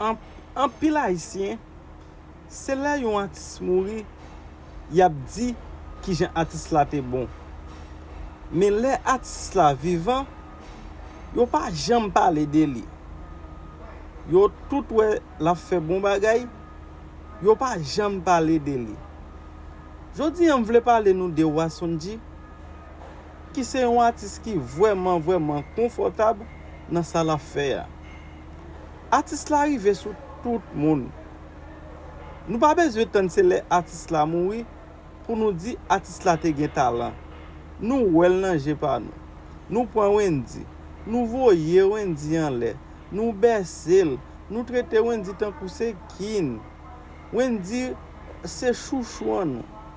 Anpil ayisyen se lè yon atis mouri yap di kijan atis la te bon men lè atis la vivan yo pa janm pale de li yo tout wè lap fè bon bagay yo pa janm pale de li jodi an m vle pale nou de Wasonji ki se yon atis ki vrèman vrèman konfòtab nan sa lap fè a. Atis la rive sou tout moun. Nou pa bezwen tann se lè atis la mouri pou nou di atis la te gen talan. Nou wè l nan je pa nou. Nou pran Wendy, nou voye Wendy anlè, nou bèse l, nou trete Wendy tankou se king. Wendy se chouchou an nou.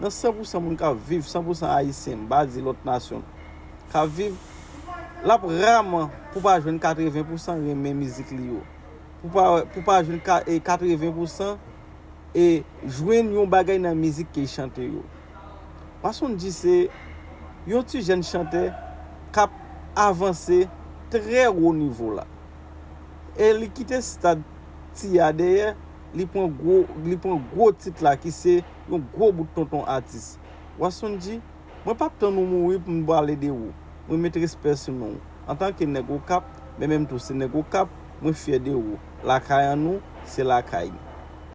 nan san pousan moun kap viv, san pousan ayisyen, m pa di lòt nasyon, kap viv, l ap raman pou pa jwenn katreven pousan renmen mizik li yo. Pou pa jwenn katreven pousan e jwenn yon bagay nan mizik ke y chante yo. Mason Dji se yon ti jèn chantè kap avanse trè wo nivo la. E li kite stad ti a dèyè. li pran gwo li pran gwo tit la ki se yon gwo bout tonton atis. Wasson di, Mwen pap tann ou mouri pou m pale de ou. Mwen met respè sou non ou. Antan ke nèg Okap, men menm tou se nèg Okap, mwen fyè de ou. Lakay an nou, se lakay m.